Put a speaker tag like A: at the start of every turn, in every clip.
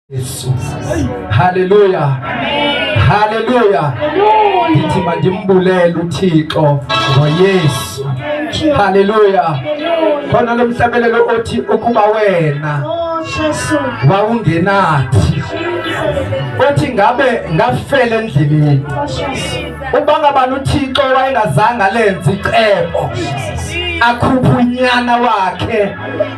A: Yesu. Haleluya. Haleluya. Ndithi mandimbulele uThixo ngoYesu. Haleluya. Khona lo mhlabelelo othi ukuba wena wawungenathi othi ngabe ngafela endleleni uba ngabani uthixo wayengazange alenze icebo akhuphe unyana wakhe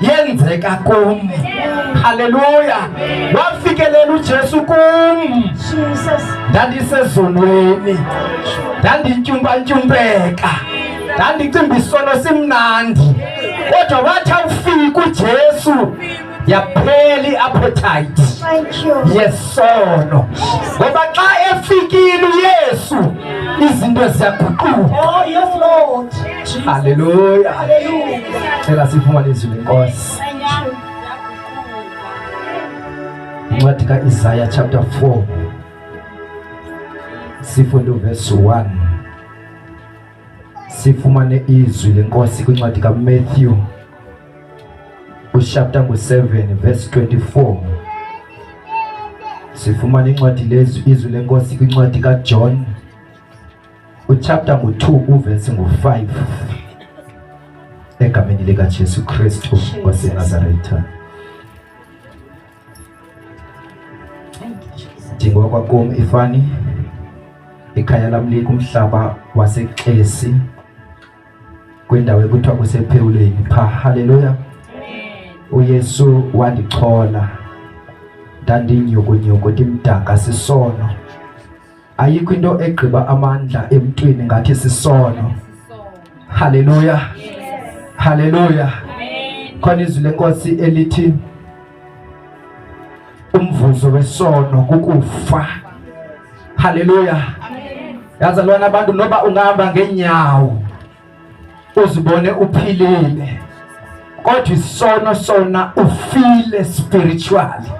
A: yenzeka kum. Haleluya! Wafikelela uJesu kum.
B: Ndandisezonweni,
A: ndandityumpantyumpeka, ndandicimba isono simnandi, kodwa wathi awufika uJesu yaphela i-appetite
B: yesono
A: ngoba xa efikile uyesu izinto ziyaguquka
B: oh,
A: Haleluya.
B: Cela siphuma
A: lizwi lenkosi. Incwadi ka-Isaya chapter 4 sifunde uverse 1 sifumane izwi lenkosi kwincwadi kaMatthew uchapter ngu-7 verse 24 sifumane incwadi lezwi izwi lenkosi kwincwadi kaJohn Uchapter ngu-2 uvesi ngu-5 egameni likaJesu Kristu waseNazaretha. Ndingokwa kum ifani ikhaya lam likumhlaba waseXesi kwindawo ekuthiwa kusephewuleni pha. Haleluya! UYesu wandichola ndandinyukunyuku ndimdaka sisono ayikho into egqiba amandla emntwini ngathi sisono haleluya haleluya khona izwi lenkosi elithi umvuzo wesono kukufa haleluya yazalwana abantu noba ungahamba ngeenyawo uzibone uphilile kodwa isono sona ufile spiritually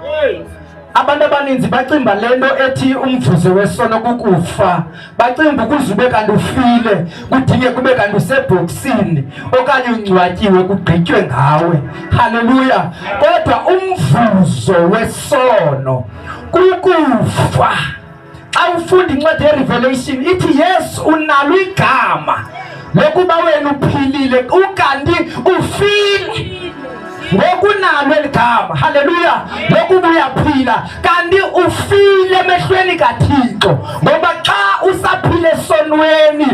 A: abantu abaninzi bacimba le nto ethi umvuzo wesono kukufa bacimba ukuze ube kanti ufile kudinge kube kanti usebhoksini okanye ungcwatyiwe kugqitywe ngawe halleluya kodwa umvuzo wesono kukufa Xa ufunda incwadi yeRevelation ithi yes unalo igama lokuba wena uphilile ukanti ufile ngokunalo eli gama haleluya ngokuba uyaphila kanti ufile emehlweni kathixo ngoba xa usaphile esonweni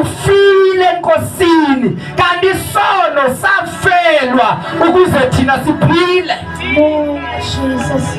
A: ufile enkosini kanti isono safelwa ukuze thina siphile oh,
B: Jesus.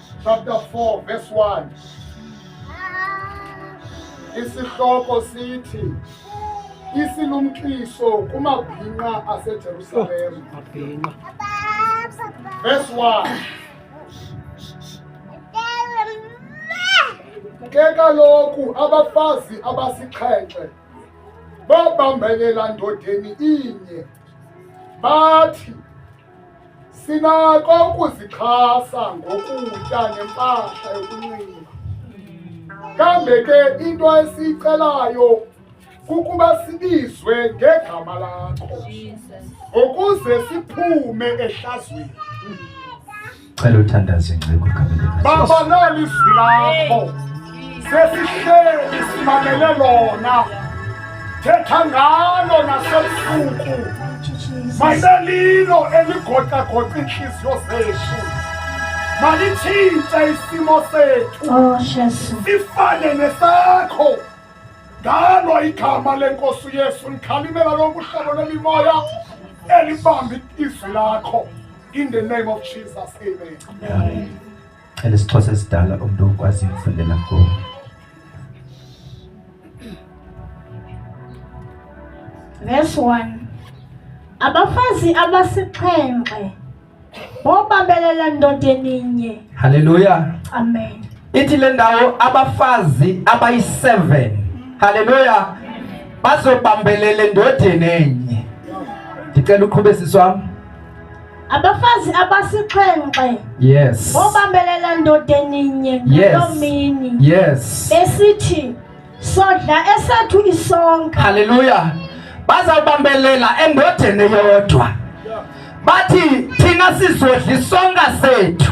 C: chapter 4 verse 1 isihloko sithi isilumkiso kumabhinqa asejerusalem oh, verse 1 ke kaloku abafazi abasixhenxe babambelela ndodeni inye bathi Sinako ukuzixhasa ngokutya nempahla yokunxiba. Kambe ke into esiyicelayo kukuba sibizwe ngegama lakho ukuze siphume ehlazweni.
A: Cela uthandaze ngcebo igama likaJesu. Baba nali izwi
C: lakho. Sesihleli simalele lona. Thetha ngalo nasebusuku. Mayibe lilo eligoqagoqa iintliziyo zethu. Malitshintshe isimo sethu. Oh, Jesu.
B: Sifane
C: nesakho. Ngalo igama lenkosi uYesu ndikhalimela lonke uhlobo lwemimoya elibamba izwi lakho. In the name
A: of Jesus, amen. Amen. And it's toss as dollar of dog as in for the lago. Verse 1
B: Abafazi abasixhenxe bobabelela ndoda eninye. Hallelujah. Amen. Ithi le ndawo
A: abafazi abayi-7 haleluya bazobambelela endodeni enye ndicela uqhube sisi wam
B: abafazi abasixhenxe yes
A: obambelela ndoda
B: eninye ngaloo mini yes
A: besithi
B: sodla esethu isonka haleluya
A: bazawubambelela endodeni eyodwa bathi thina sizodla isonka sethu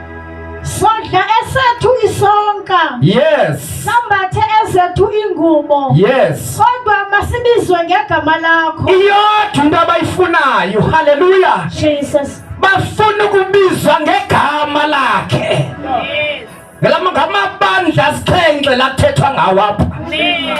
A: Sodla
B: esethu isonka. Yes.
A: Sambathe
B: ezethu ingubo. Yes. Kodwa
A: masibizwe
B: ngegama lakho. Iyodwa into
A: abayifunayo. Hallelujah. Jesus.
B: Bafuna
A: ukubizwa ngegama lakhe. Yes. Ngamabandla asixhenxe lathethwa ngawo apha. Yes.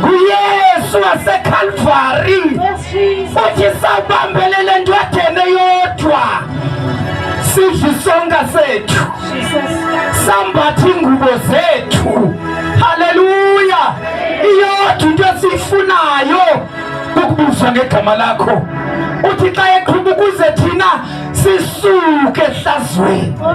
A: nguyesu wasekhalvari uthi sawubambelele nto athene yodwa sidla isonka sethu sambatha iingubo zethu haleluya iyodwa into esiyifunayo ukubuzwa ngegama lakho uthi xa eqhuba ukuze thina sisuke ehlazweni
B: oh,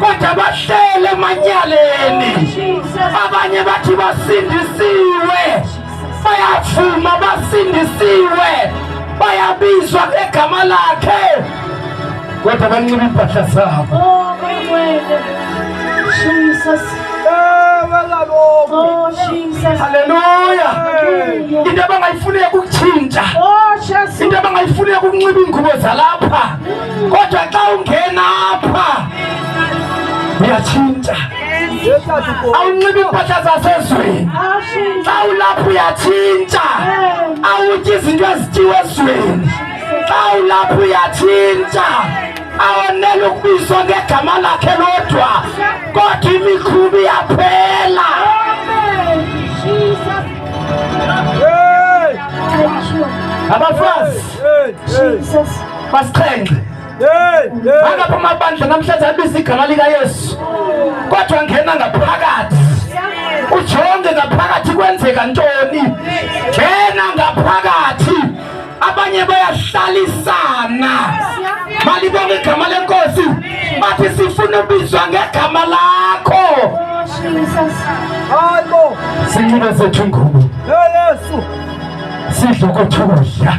A: kodwa bahlele emanyaleni abanye bathi basindisiwe bayavuma basindisiwe bayabizwa ngegama lakhe kodwa banxiba iimpahla zabo
B: oh, oh, haleluya
A: into abangayifuneki ukutshintsha oh,
B: into abangayifuneki
A: ukunxiba iingubo zalapha Kodwa xa ungena apha uyatshintsha, awunxibi impahla zasezweni. Xa ulapha uyatshintsha, awutyi izinto ezityiwa ezweni. Xa ulapha uyatshintsha, awonele ukubizwa ngegama lakhe lodwa, kodwa imikhubi iyaphela. Abafazi basixhenxe angapha amabandla namhlanje abiza igama likayesu kodwa ngena ngaphakathi ujonge ngaphakathi kwenzeka ntoni ngena ngaphakathi abanye bayahlalisana balibonga igama lenkosi bathi sifuna ubizwa ngegama lakho
B: sinxibe zethu
A: ngubo sidle kothu kudla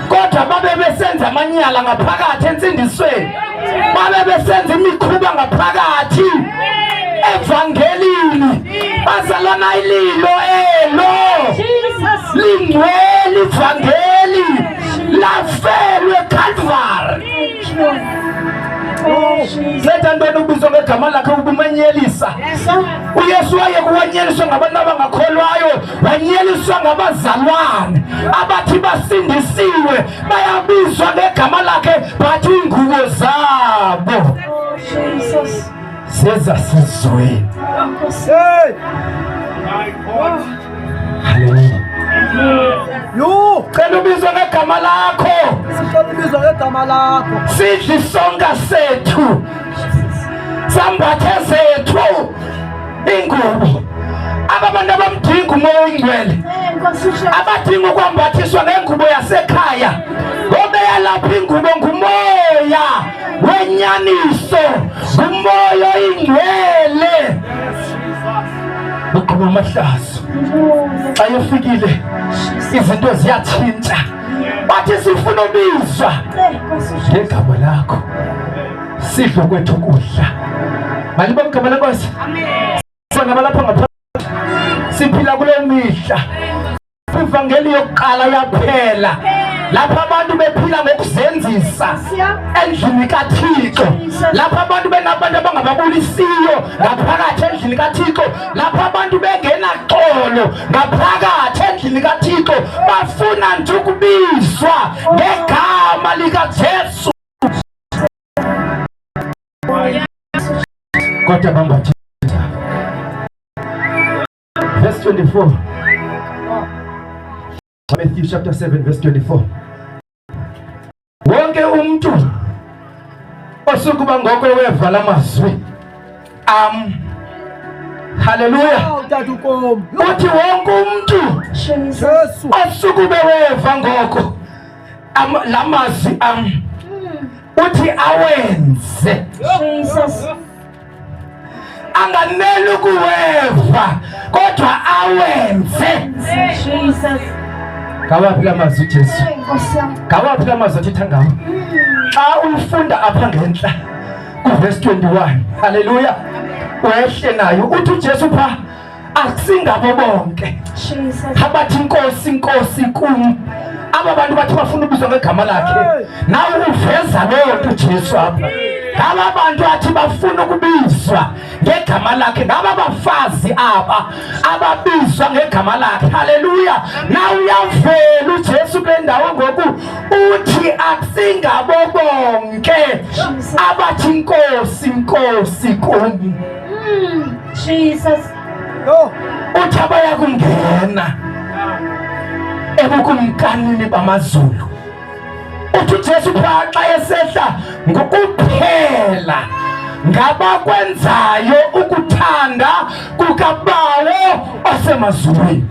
A: kodwa babe besenza amanyala ngaphakathi entsindisweni babe besenza imikhuba ngaphakathi evangelini bazalwana ililo elo lingcwele ivangeli lafelwe calvary zetha ntoni ubizwa ngegama lakhe ubumenyelisa uyesu waye kuwanyeliswa ngabantu abangakholwayo banyeliswa ngabazalwane abathi basindisiwe bayabizwa ngegama lakhe bathi iingubo zabo sezasizweni Yho, cela ubizwe ngegama lakho. Sicela ubizwe
D: ngegama lakho. Sidli sonka
A: sethu. Sambathe zethu. ingubo ababantu abamdinga umoya oyingcwele abadinga ukwambathiswa ngengubo yasekhaya obeyalapha ingubo ngumoya wenyaniso ngumoya oyingcwele uqhuba amahlazo xa yofikile izinto ziyatshintsha bathi sifuna ubizwa ngegama lakho Sifa kwethu kudla. Malibo mgama lenkosi. Amen. Sona balapha ngapha. Siphila kule mihla. Ivangeli yokuqala yaphela. Lapha abantu bephila ngokuzenzisa endlini kaThixo. Lapha abantu benabantu abangababulisiyo ngaphakathi endlini kaThixo. Lapha abantu bengenaxolo ngaphakathi endlini kaThixo. Bafuna nje ukubizwa ngegama likaJesu. Kota mambo ya Verse 24. Matthew chapter 7 verse 24. Wonke umntu osukuba ngoko weva la mazwi am Haleluya. Uthi wonke umntu osukube weva ngoko la mazwi am uthi awenze anganeli ukuweva kodwa awenze
B: ngawaphi
A: la mazwi ujesu ngawaphi la mazwi athetha ngawo xa uyifunda apha ngentla kuvesi 21 halleluya wehle nayo uthi ujesu phaa asingabo bonke abathi inkosi inkosi kum aba bantu bathi bafuna ubizwa ngegama lakhe nawe uveza leyo nto ujesu apha ngaba bantu athi bafuna ukubizwa ngegama lakhe ngaba bafazi aba ababizwa ngegama lakhe haleluya na uyavela ujesu kule ndawo ngoku uthi akusingabo bonke abathi nkosi nkosi kuni hmm.
B: Jesus. No.
A: Uthi abayakungena ebukumkanini bamazulu. Uthi uJesu phaa xa esehla ngokuphela ngabakwenzayo ukuthanda kukaBawo osemazulwini.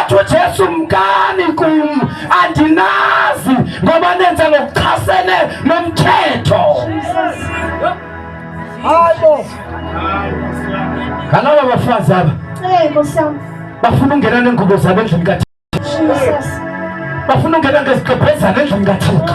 A: atsho jesu mkani kum andinazi ngoba nenze ngokuchasene nomthetho ngalaba bafazi aba bafuna ungena neengubo zabo endlini kathixo bafuna ungena ngezigqebhezana endlini kathixo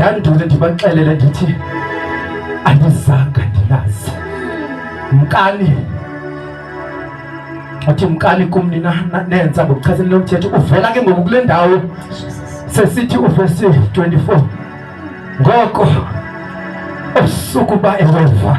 A: ndandule ndibaxelele ndithi andizanga ndilazi mkani athi mkani kum nina nenza ngokuchasene lomthetho uvela ke ngoku kule ndawo sesithi uvesi 24 ngoko usuku uba eweva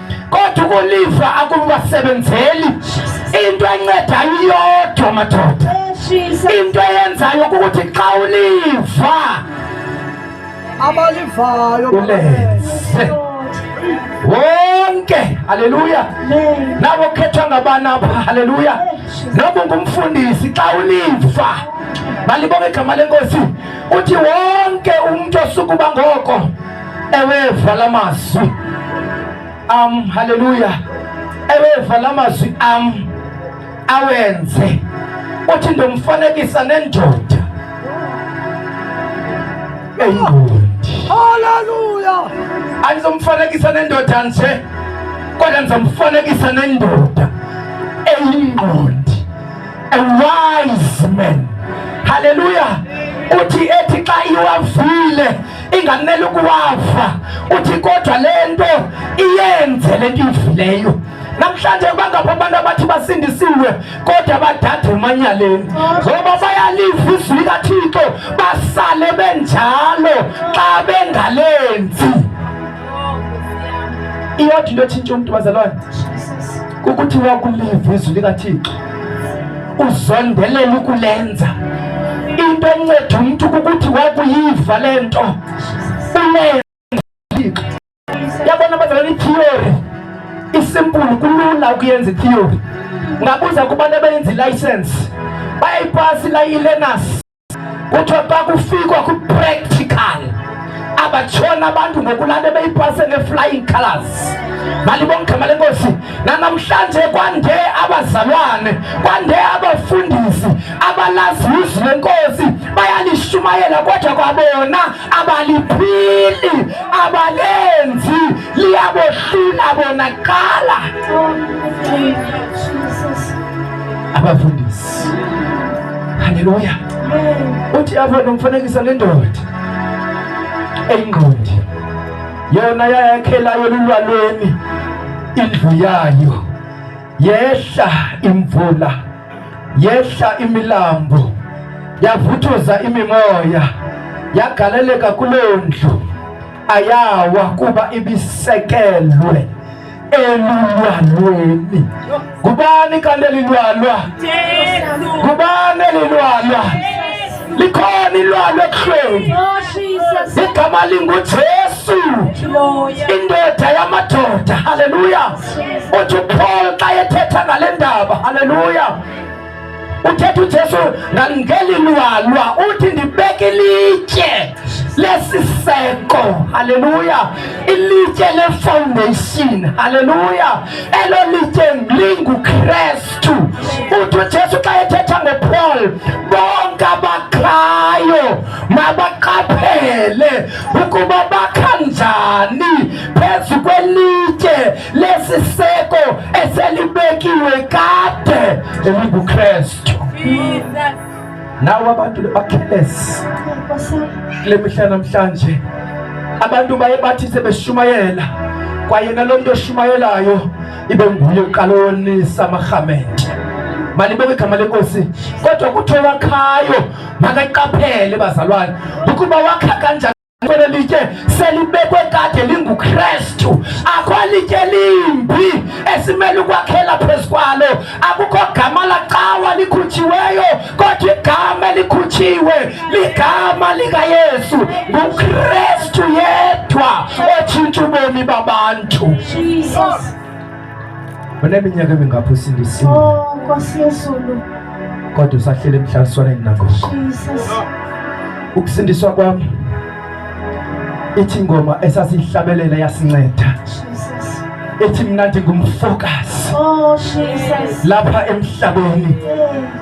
A: kodwa ukuliva akubasebenzeli into encedayo iyodwa madoda into eyenzayo kukuthi xa uliva
D: abalivayo ulenze
A: wonke haleluya nabo khethwa ngabani apha haleluya noba ungumfundisi xa uliva balibonga igama lenkosi uthi wonke umntu osukuba ngoko ewe vala mazwi am haleluya ewe vala mazwi am awenze uthi ndomfanekisa nendoda eyingondi haleluya
D: andizomfanekisa
A: nendoda nje kodwa ndizomfanekisa nendoda eyingqondi a wise man haleluya uthi ethi xa iwavile ingamele ukuwava uthi kodwa le nto iyenze le nto iyivileyo namhlanje bangapha abantu abathi basindisiwe kodwa badade emanyaleni ngoba bayaliva izwi likathixo basale benjalo xa bengalenzi iyodwa into ethintsha umntu bazalwane kukuthiwa kuliva izwi likathixo uzondelela ukulenza into enceda umntu kukuthi wakuyiva le nto ulenza yabona bazalana itheory isimpulu kulula ukuyenza itheory ngabuza kubantu abenza ilayisensi bayayipasi ilayilenasi kuthiwa xa kufikwa kwipractical abatshona abantu ngokulande beyipase ne-flying colors malibona igama lenkosi nanamhlanje kwande abazalwane kwande abafundisi abalazi izwi lenkosi bayalishumayela kodwa kwabona abaliphili abalenzi liyabohlula bonakala abafundisi Haleluya. Uthi apha nomfanekisa lendoda eyingqondi yona yayakhelayo lulwalweni indlu yayo yehla imvula yehla imilambo yavuthuza imimoya yagaleleka kuloo ndlu ayawa kuba ibisekelwe elilwanweni ngubani kanti elilwanwa ngubani elilwanwa likhona ilwalo ekuhlweni oh, igama lingujesu indoda yamadoda haleluya uthi uphol xa ethetha ngale ndaba haleluya uthetha ujesu ngangeli lwalwa uthi ndibeke ilitye lesiseko haleluya ilitye lefoundation haleluya elo litye lingukrestu uthi ujesu xa ethetha ngopaul bonke abakhayo mabaqaphele ukuba bakha njani phezu kwelitye lesiseko eselibekiwe kade elingukristu nawo abantu bakhelesi kule mihla namhlanje abantu baye bathi sebeshumayela kwaye nalo mntu oshumayelayo ibe nguye uqala wonisa amarhamente malibeke igama lenkosi kodwa kuthiwa wakhayo makaqaphele bazalwane ukuba wakha kanjani kwelo litye selibekwe kade lingukrestu akho litye limbi esimele ukwakhela phezu kwalo akukho gama lacawa likhutshiweyo kodwa igama elikhutshiwe ligama likayesu ngukrestu yedwa otshintsha ubomi babantu Jesus. Uneminyaka emingaphi usindisiwe? Oh, Nkosi Yesu.
B: Kodwa
A: usahlele emhlaliswaneni nako. Jesus. Ukusindiswa kwami ithi ingoma esasihlabelela yasinceda. Jesus. Ithi mina ndingumfokazi. Oh, Jesus. Lapha emhlabeni. Yeah.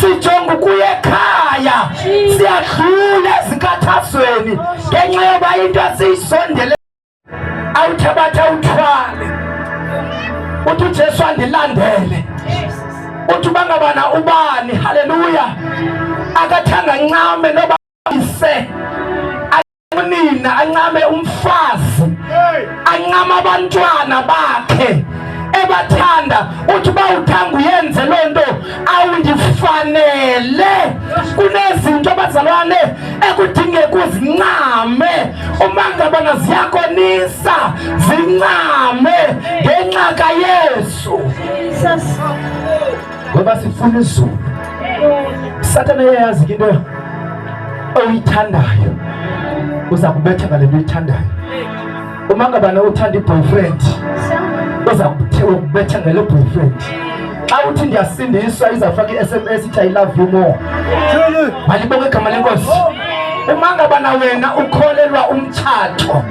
A: sijonga ukuya ekhaya siyadlula ezinkathazweni ngenxa yoba into esiyisondele awuthabatha uthwale uthi ujesu andilandele uthi uba ngabana ubani haleluya akathanga ncame noba ise nina ancame umfazi ancama abantwana bakhe ebathanda uthi uba uthanga uyenze loo nto awundifanele kunezinto abazalwane ekudingeka uzincame uma ngabana ziyakonisa zincame ngenxa kayesu ngoba sifuna izulu. Sathane uyayazi ke into oyithandayo uza kubetha ngale nto uyithandayo. Uma ngabana uthanda i-boyfriend uza kubetha ngale boyfriend. Xa uthi ndiyasindiswa izawufaka i-SMS ithi I love you more. Malibonge igama lenkosi. uma ngabana wena ukholelwa umtshato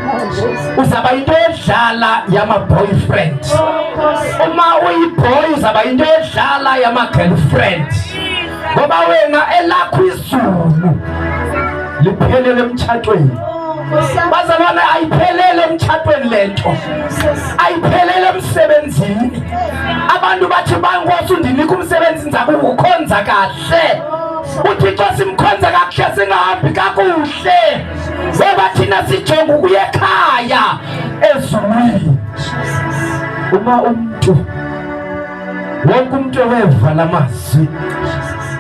A: uzaba into edlala yama-boyfriend uma uyiboy uzaba into edlala yama-girlfriend ngoba wena elakho izulu liphelele emtshatweni bazalwane ayiphelele emtshatweni le nto ayiphelele emsebenzini abantu bathi bankosi undinika umsebenzi ndizakuwukhonza kahle uthixo simkhonze kakuhle singahambi kakuhle ngoba thina sijonga ukuya ekhaya ezulwini uma umntu wonke umntu eweva la mazwi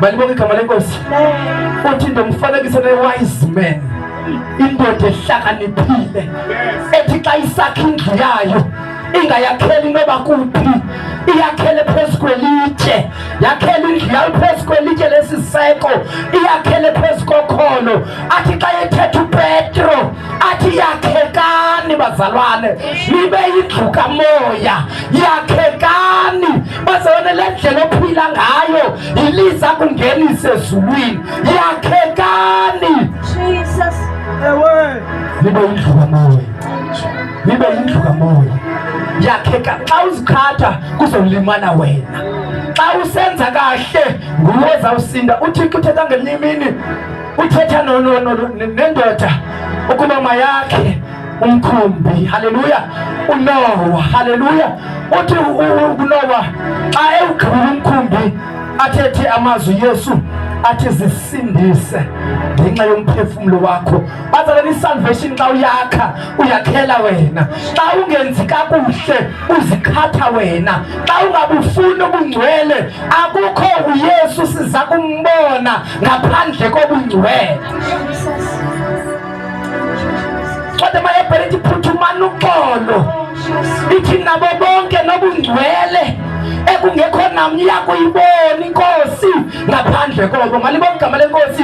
A: balibonga igama lenkosi uthi into mfanekise ne-wise man indoda ehlakaniphile ethi xa isakha indlu yayo ingayakheli noba kuphi iyakhele phezu kwelitye yakhele indlu yayo phezu kwelitye lesiseko iyakhele phezu kokholo athi xa yethetha upetro athi yakhekani bazalwane nibe yindlu kamoya yakhekani bazalwane le ndlela ophila ngayo yiliza kungenise ezulwini yakhekani nibe yindlu kamoya nibe yindlu kamoya yakheka xa uzikhatha kuzolimana wena xa usenza kahle nguwe zawusinda uthixo uthetha ngelinye imini uthetha nendoda ukuba mayakhe umkhumbi haleluya unowa haleluya uthi unowa xa ewugqibula umkhumbi athethe amazwi yesu athi zisindise ngenxa yomphefumlo wakho bazalana isalvation xa uyakha uyakhela wena xa ungenzi kakuhle uzikhatha wena xa ungabufuni ubungcwele akukho uyesu siza kumbona ngaphandle kobungcwele code mayebhele ithi phuthumana uxolo ithi nabo bonke nobungcwele ekungekho namnye yakuyibona inkosi ngaphandle koko malibona igama lenkosi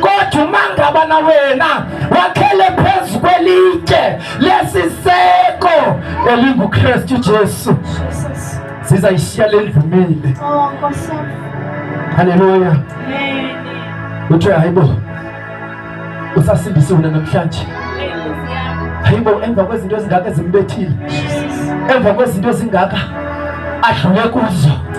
A: kodwa umangabana wena wakhele phezu kwelitye lesiseko elingukristu jesu sizayishiya le ndvumile oh, halleluya kuthiwe hayibo usasindisiwe namhlanje hayibo emva kwezinto ezingaka ezimbethile emva kwezinto ezingaka adlule kuzo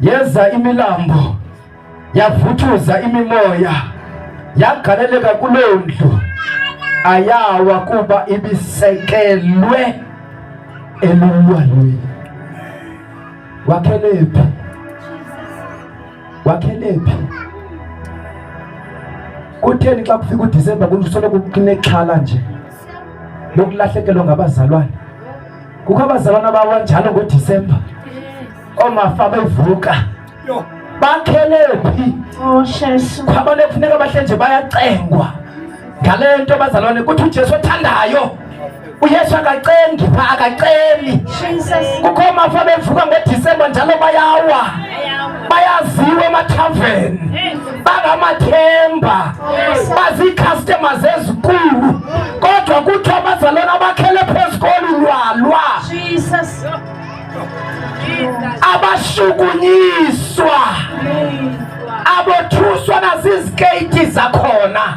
A: Yeza imilambo yavuthuza imimoya yagaleleka kuloo ndlu ayawa kuba ibisekelwe elulwalweni. Wakhelephi? Wakhelephi? Kutheni xa kufika uDisemba kusoloko kunexhala nje lokulahlekelwa ngabazalwane? Kukho abazalwana abawanjalo ngoDisemba. oomafa bevuka bakhele phi oh, khwabane kufuneka bahle nje bayacengwa ngale nto bazalwane kuthi ujesu othandayo uyesu akacengi pha akaceli kukho mafa bevuka ngodisemba njalo bayawa bayaziwa emathaveni bangamathemba oh, baziikhastema zezikulu kodwa kuthiwa abazalwana abakhele phezu kolulwalwa abahlukunyiswa abothuswa nazizikeyithi zakhona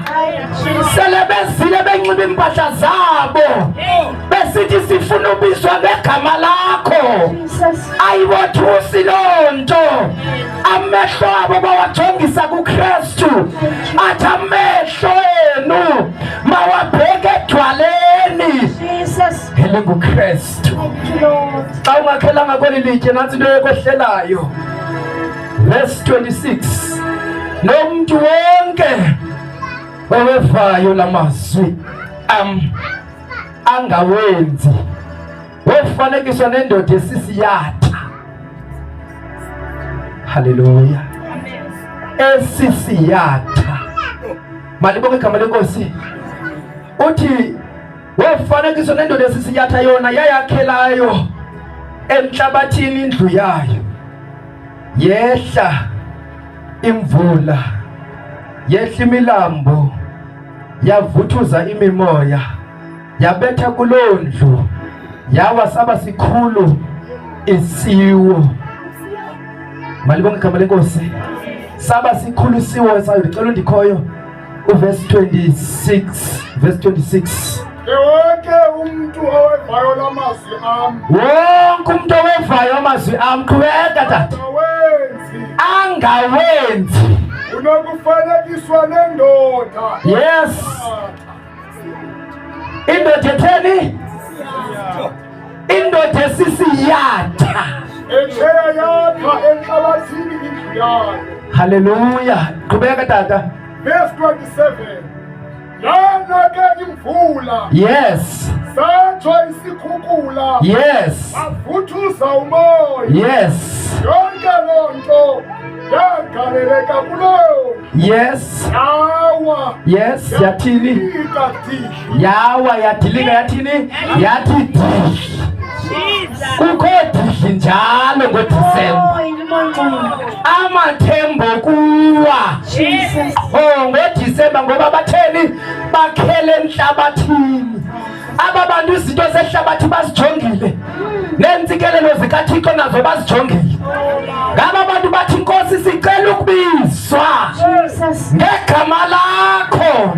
A: sele bezile benxiba iimpahla zabo besithi sifuna ubizwa ngegama lakho ayibothusi loo nto amehlo abo bawajongisa kukristu athi amehlo enu mawabheke edwaleni elingukristu xa ungakhelanga kweli litye nantsi into yokwehlelayo verse 26 nomntu wonke owevayo la mazwi am angawenzi wofanekiswa nendoda esisiyatha haleluya esisiyatha malibonge igama lenkosi uthi Womfanekiso nendoda esisinyatha yona yayakhelayo entlabathini indlu yayo yehla imvula yehla imilambo yavuthuza imimoya yabetha kuloo ndlu yawa saba sikhulu isiwo malibonke igama lenkosi saba sikhulu isiwo sayo ndicela undikhoyo Verse 26, verse 26. Wonke
C: umntu owevayo la mazwi am. Wonke umntu
A: owevayo amazwi am qhubeka tata. Angawenzi. Unokufanekiswa
C: nendoda. Yes.
A: Indoda etheni? indoda esisi yatha echeya
C: yatha enhlabathini indlu yayo haleluya
A: qhubeka tata verse
C: 27 yana ke imvula yes
A: satsho
C: isikhukhula yes
A: avuthuza
C: umoya yes
A: yonke loo
C: nto yagaleleka kuloyo yes
A: awa
C: yes yathini
A: yawa yadilika yathini yathi dish kukho dish njalo ngodisemba amathembo kuwa o oh, ngodisemba ngoba batheni bakhele entlabathini aba bantu izinto zehlabathi bazijongile neentsikelelo zikathixo nazo bazijongile ngaba bantu bathi inkosi sicela ukubizwa ngegama lakho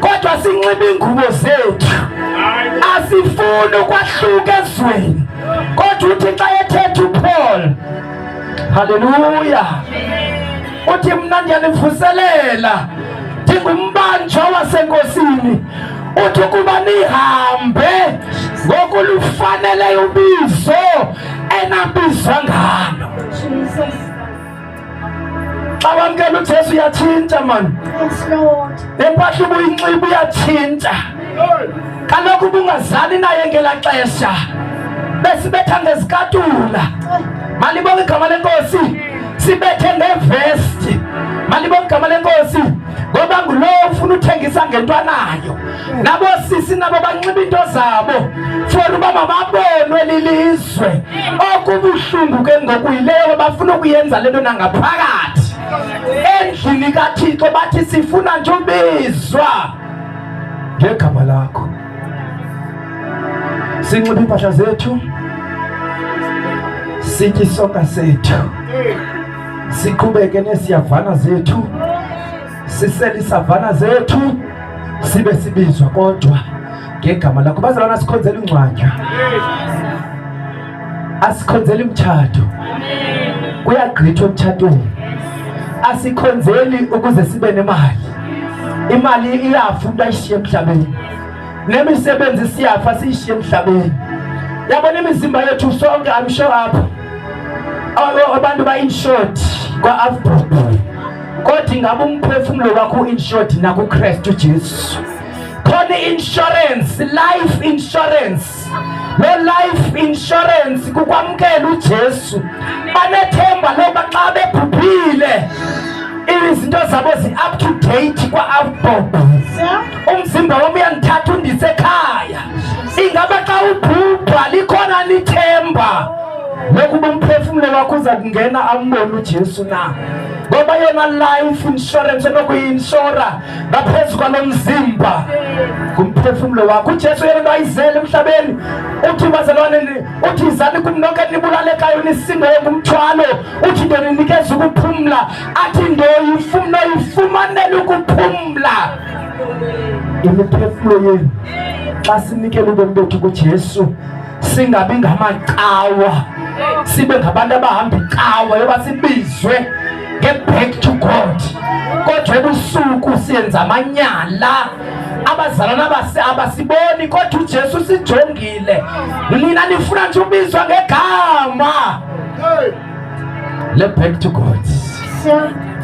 A: kodwa sinxiba iingubo zethu asifuni ukwahluka ezweni kodwa uthi xa ethetha upaul haleluya uthi mna ndiyanivuselela ndingumbanjwa wasenkosini uthi ukuba nihambe ngokulufaneleyo ubizo enabizwa ngalo xa wamkela ujesu uyatshintsha mani nempahla ubuyinxiba uyatshintsha kaloku ubungazali naye ngela xesha besibetha ngezikatula malibonga igama lenkosi sibethe ngevesti malibonga igama lenkosi ngoba ngulowo ufuna uthengisa ngento anayo nabo sisi nabo banxiba into zabo for uba mababonwe lilizwe okubuhlungu ke ngoku yileyo bafuna ukuyenza le nto nangaphakathi endlini kathixo bathi sifuna nje ubizwa ngegama lakho sinxiba iimpahla zethu sitye isonka sethu siqhubeke nesiyavana zethu sisele isavana zethu sibe sibizwa kodwa ngegama lakho baze lona sikhonzela ingcwatya asikhonzeli mtshato kuyagqithwa emtshatweni asikhonzeli ukuze sibe nemali imali iyafa umntu ayishiye emhlabeni nemisebenzi siyafa siyishiye emhlabeni yabona imizimba yethu sonke amsho apha abantu ba-inshort kwa-afbrob kodwa ingaba umphefumlo wakho uinsured nakukristu jesu khona i-insurance life insurance loo life insurance kukwamkela ujesu banethemba loba xa bebhubhile izinto zabo zi-up to date kwa-outbob umzimba wam uyandithatha undise ekhaya ingaba xa ubhubha likhona lithemba lokuba umphefumlo wakho uza kungena ambone ujesu na ngoba yona life insurance enokuyi-inshora ngaphezu kwalo mzimba ngumphefumlo wakho ujesu yena into ayizele emhlabeni uthi bazalwane uthi izani kum nonke nibulalekayo nisindayo ngumthwalo uthi nto ninikeza ukuphumla athi nto yifumno yifumanele ukuphumla imiphefumlo yenu xa sinikela ubomi bethu kujesu singabi ngamacawa sibe ngabantu abahamba icawa yoba sibizwe nge-back to god kodwa ebusuku siyenza amanyala abazalana base abasiboni kodwa ujesu usijongile nina nifuna nje ubizwa ngegama le back to god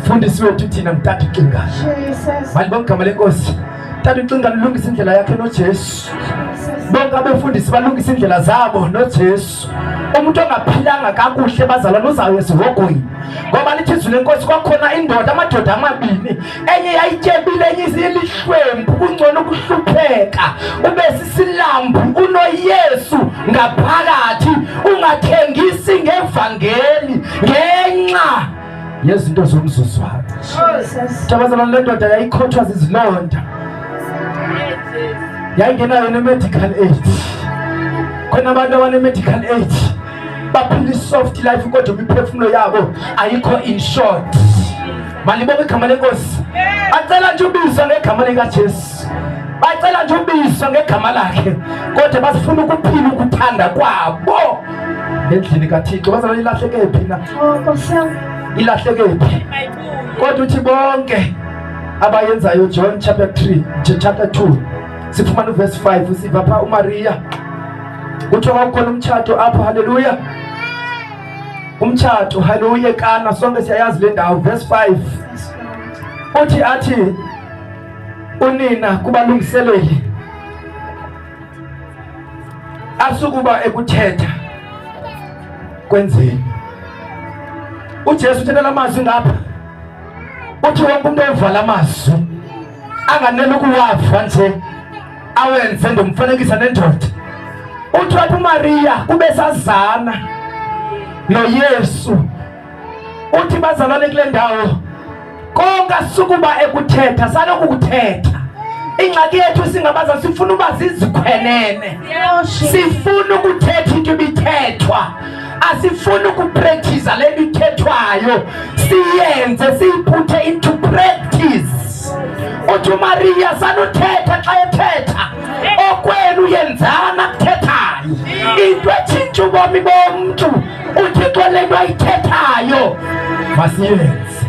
A: fundisi wethu thina mtata ucingayo malibongigama lenkosi Tata ucinga lilungisa indlela yakhe noJesu. Bonke abefundisi balungisa indlela zabo noJesu. Umuntu ongaphilanga kakuhle bazalwane uzayo esihogweni. Ngoba lithi izwi lenkosi kwakhona indoda amadoda amabini enye yayityebile enye isilihlwempu kungcono ukuhlupheka ube sisilambu unoYesu ngaphakathi ungathengisi ngevangeli ngenxa yezinto zomzuzwana tabazana le ndoda yayikhothwa zizilonda yayingenayo ne-medical aid khona abantu abane-medical aid baphila i-soft life kodwa imiphefumulo yabo ayikho in short malibonga igama lenkosi bacela nje ubizwa ngegama likajesu bacela nje ubizwa ngegama lakhe kodwa basifuna ukuphila ukuthanda kwabo endlini kaThixo bazalwane ilahleke phi na oh, ilahleke phi kodwa uthi bonke abayenzayo John chapter 3 chapter 2 sifumana uverse 5 usiva pha uMaria kuthiwa kwakukhona umtshato apho haleluya umtshato haleluya kana sonke siyayazi le ndawo verse 5 uthi athi unina kubalungiseleli asukuba ekuthetha kwenzeni uJesu uthetha lamazwi ngapha uthi wonke umuntu ova lamazwi anganele ukuwava nje awenze ndomfanekisa nendoda uthi wathi uMariya kube sazana noYesu uthi bazalwane kule ndawo konke asukuba ekuthetha saloku kuthetha ingxaki yethu singabaza sifuna uba zizikhwelene sifuna ukuthetha into ibithethwa asifuni ukuprekthiza le nto ithethwayo siyenze siyiphuthe into practice uthi umariya sanuthetha xa ethetha okwenu yenzana kuthethayo into etshintsha ubomi bomntu uThixo le nto ayithethayo masiyenze.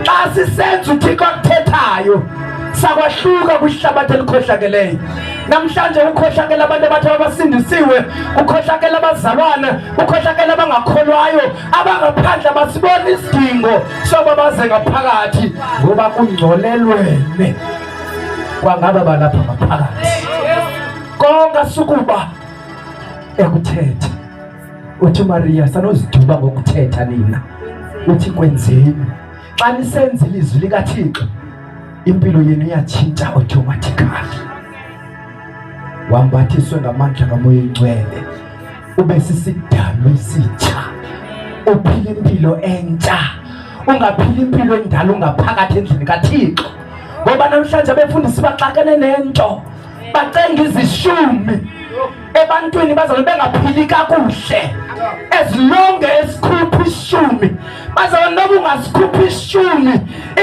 A: Xa sisenza uThixo akuthethayo sakwahluka kwihlabathi elikhohlakeleyo namhlanje ukhohlakela abantu abathi abasindisiwe ukhohlakela abazalwana ukhohlakela abangakholwayo abangaphandle abasiboni isidingo soba baze ngaphakathi ngoba kungcolelwene kwangaba balapha ngaphakathi konga sukuba ekuthetha uthi umariya sanozidumba ngokuthetha nina uthi kwenzeni xa nisenza ilizwi likathixo impilo yenu iyatshintsha automatically wambathiswe ngamandla kamoya ingcwele ube sisidalwa esitsha uphila impilo entsha ungaphila impilo endala ungaphakathi endlini kathixo ngoba namhlanje abefundisi baxakene nento bacenga izishumi ebantwini bazabe bengaphili kakuhle ezilonge esikhupha ishumi bazabe noba ungasikhupha ishumi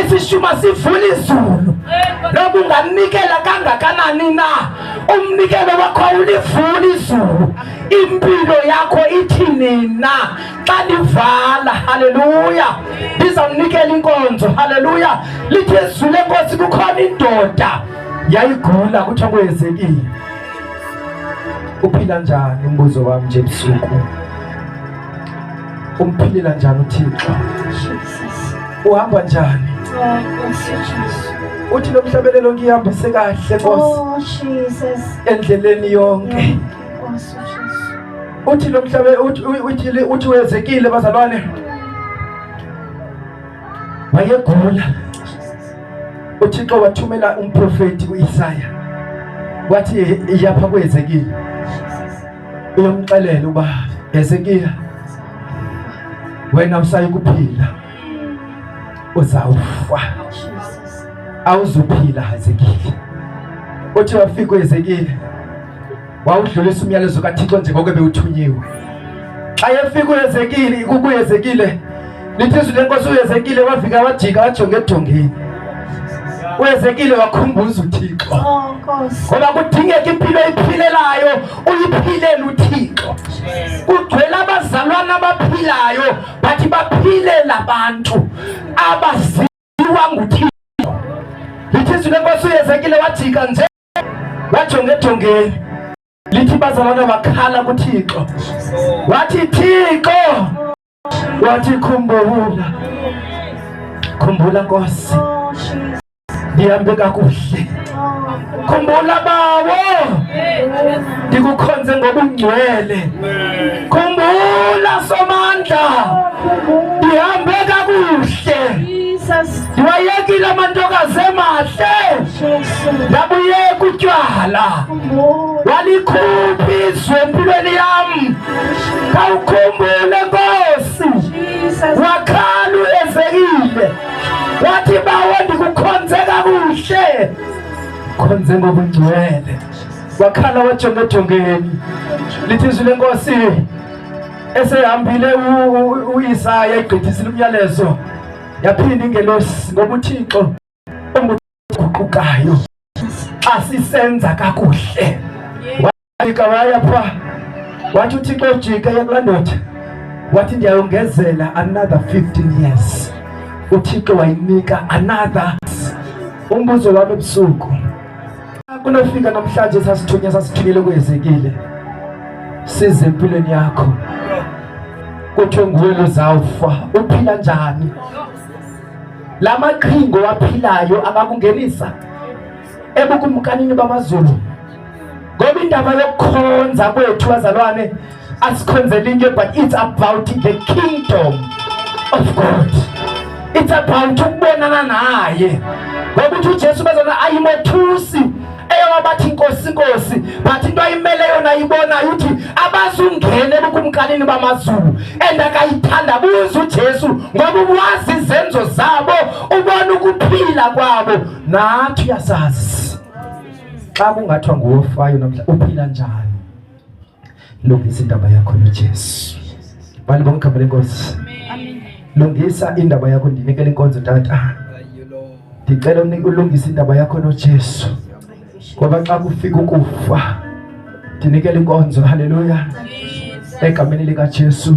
A: isishuma sivula izulu noba ungamnikela kangakanani na umnikelo wakho awulivula izulu impilo yakho ithini na xa livala haleluya ndizawunikela inkonzo haleluya lithi ezule nkosi kukhona indoda yayigula kuthiwa kwenzekile uphila njani umbuzo wami nje busuku umphilela njani uthixo uhamba njani
B: uthi lo mhlabelelo
A: ngihambise kahle nkosi oh,
B: endleleni yonke uthi lo mhlabe
A: uthi uthi wezekile bazalwane wayegula. UThixo wathumela umprofeti uIsaya wathi iyapha kweZekiya uyomxelela uba Hezekiya wena usayi kuphila uzawufa awuzuphila Hezekiya uthi wafika uHezekiya wawudlulisa umyalezo kaThixo njengoko bewuthunyiwe. Xa efika uHezekile, kukuHezekile lithi izwi lenkosi uHezekile wafika wajika wajonga edongeni. uHezekile wakhumbuza uThixo oh, ngoba kudingeka impilo eyiphilelayo uyiphilele uThixo kugcwele abazalwane abaphilayo bathi baphilela abantu abaziwa nguThixo lithi izwi lenkosi uHezekile wajika nje bajongejongeni lithi bazalwana bakhala kuthixo wathi thixo wathi khumbula khumbula nkosi ndihambe kakuhle khumbula bawo ndikukhonze ngobungcwele khumbula somandla ndihambe kakuhle wayekile mantoka zemahle ndabuyeka utywala walikhuphi izwe empilweni yam khawukhumbule nkosi wakhala uezekile wathi bawo ndikukhonze kakuhle khonze ngobungcwele wakhala wajonga ejongeni lithi izwi lenkosi esehambile uyisaya igqithisile umyalezo yaphinda ingelosi ngoba uthixo onguguqukayo xa sisenza kakuhle wajika waya pha wathi uthixo ojike yekulaa ndoda wathi ndiyayongezela another 15 years uthixo wayinika another umbuzo wami ebusuku Kunofika namhlanje sasithunywa sasithukile kwezekile size empilweni yakho kuthiwe nguwe lozawufa uphila njani la maqhingo waphilayo angakungenisa ebukumkanini bamazulu ngoba indaba yokukhonza kwethu bazalwane asikhonzele into but it's about the kingdom of god it's about ukubonana naye ngokuthi ujesu bezona ayimothusi eyowabathi inkosi inkosi but into ayimele yona ayibonayo uthi abazungene ebukumkanini bamazulu and akayithandabuzi ujesu ngoba uwazi izenzo zabo ubona ukuphila kwabo nathi uyasazi xa kungathiwa nguwofayo namhla uphila njani Lungisa indaba yakho noJesu. Bani bonke abale Nkosi. Amen. Lungisa indaba yakho ndinikele inkonzo tata. Ndicela ulungise indaba yakho noJesu. Ngoba xa kufika ukufa ndinikele inkonzo. Haleluya. Egameni likaJesu.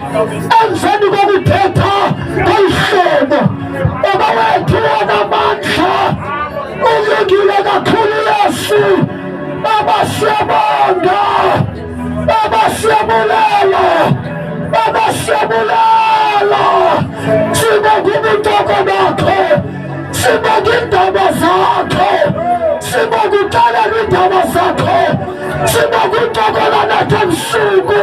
A: emveni kokuthetha ngolu hlobo baba wethu wanamandla ulungile kakhulu yesu baba siyabonga baba siyabulela baba siyabulela sibonga ubutoko bakho sibonga iindaba zakho sibonga uxelela iindaba zakho sibonga uxokola nathi ebusuku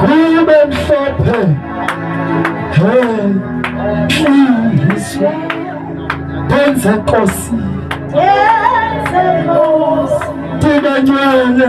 A: kube mhlophe hliyiswa benze nkosi ndinanywele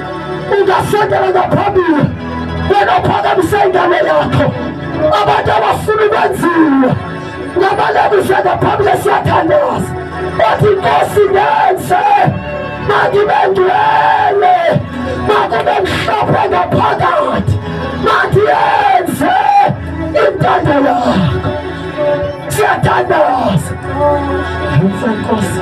A: ungasendelela phambili wena uphakamisa ingane yakho abantu abafuna ukwenziwa ngabalebisha ngaphambili esiyathandaza othi inkosi ngenze makibe ngcwele makube mhlophe ngaphakathi mathi yenze intando yakho siyathandaza yenze nkosi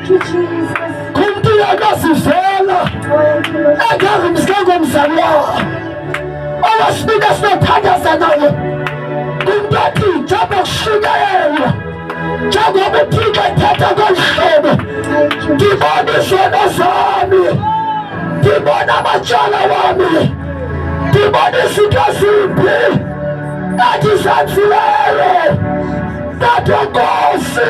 A: kumntu uyakazivela engazi mskango mzali wawo owasibika sinothandaza naye kumntu athi njengoba kushunyayelwa njengoba uphika ethatha kolu hlobo ndibona izono zami ndibona amatyala wami ndibona izinto ezimbi ndathi zanzileyo ndathi nkosi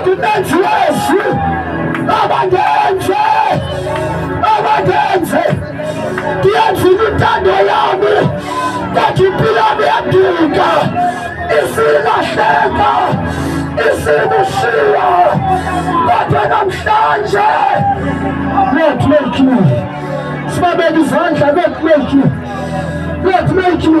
A: ndinenzi yezwi abandenze abandenze ndiyenzile intando yami kanti impilo yami yadika isilahleka isikushiya kodwa namhlanje let make you sibabeka izandla let make you let make you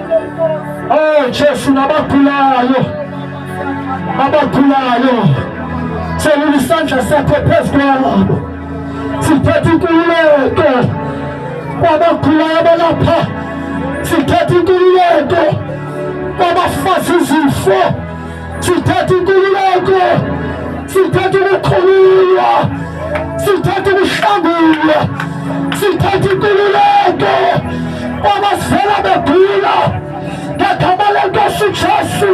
A: Oh Jesu, nabakhulayo abakhulayo selula isandla sakho phezu kwabo sithetha inkululeko kwabakhulayo abalapha sithetha inkululeko kwabafazi izifo Sithatha inkululeko, sithatha ukukhululwa, sithatha ukuhlangulwa, sithatha inkululeko kwabasela begula ngegama lenkosi Jesu,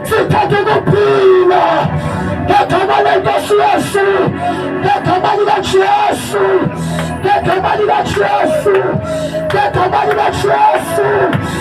A: sithatha ukuphila ngegama lenkosi Yesu, ngegama likaJesu, ngegama likaJesu, ngegama likaJesu.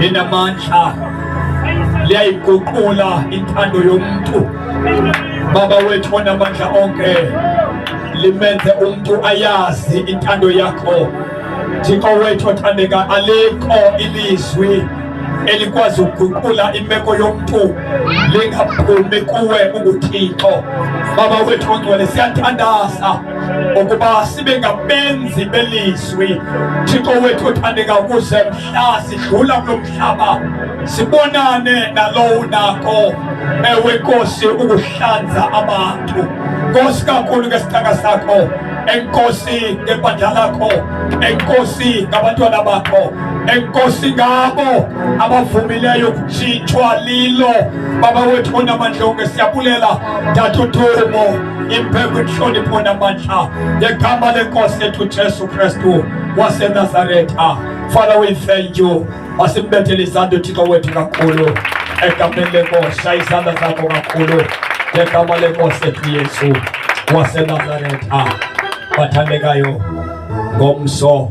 E: linamandla liyayiguqula intando yomntu baba wethu onamandla onke limenze umntu ayazi intando yakho thixo wethu othandeka alikho ilizwi elikwazi ukuguqula imeko yomntu lingaphumi kuwe unguthixo baba wethu ongcwele siyathandaza ukuba sibe ngabenzi belizwi ezweni. Thixo wethu othandeka ukuze mhla sidlula kulo mhlaba sibonane nalowo unako ewe Nkosi ukuhlanza abantu Nkosi kakhulu ngesithaka sakho enkosi ngebandla lakho enkosi ngabantwana bakho enkosi ngabo abavumileyo kutshintshwa lilo baba wethu onamandla onke siyabulela dathudumo impekuchoni pona manxa yegama lenkosi yethu Jesu Kristu waseNazaretha. Father, we thank you. Masimbethele izandla uThixo wethu kakhulu egameni lenkosi. Shaya izandla zakho kakhulu ngegama lenkosi yethu Yesu waseNazaretha. Bathandekayo ngomso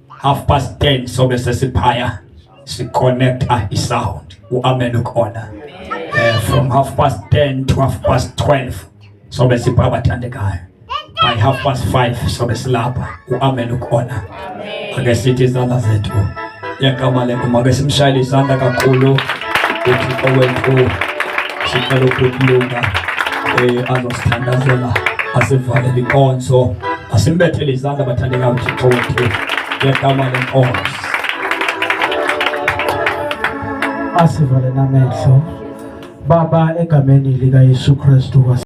E: half past 10 sobe sesiphaya siconnecta isound uamen ukhona uh, from half past 10 to half past 12 sobe sipha abathandekayo by half past 5 sobe silapha uamen ukhona ake sithi izandla zethu yegama lenkosi make simshayele izandla kakhulu uthixo wethu sicela ukulunga um eh, azosithandazela asivalele inkonzo Asimbethele izandla bathandeka uThixo wethu ngegama lenkosi.
A: Asivale namehlo. Baba egameni likaYesu Kristu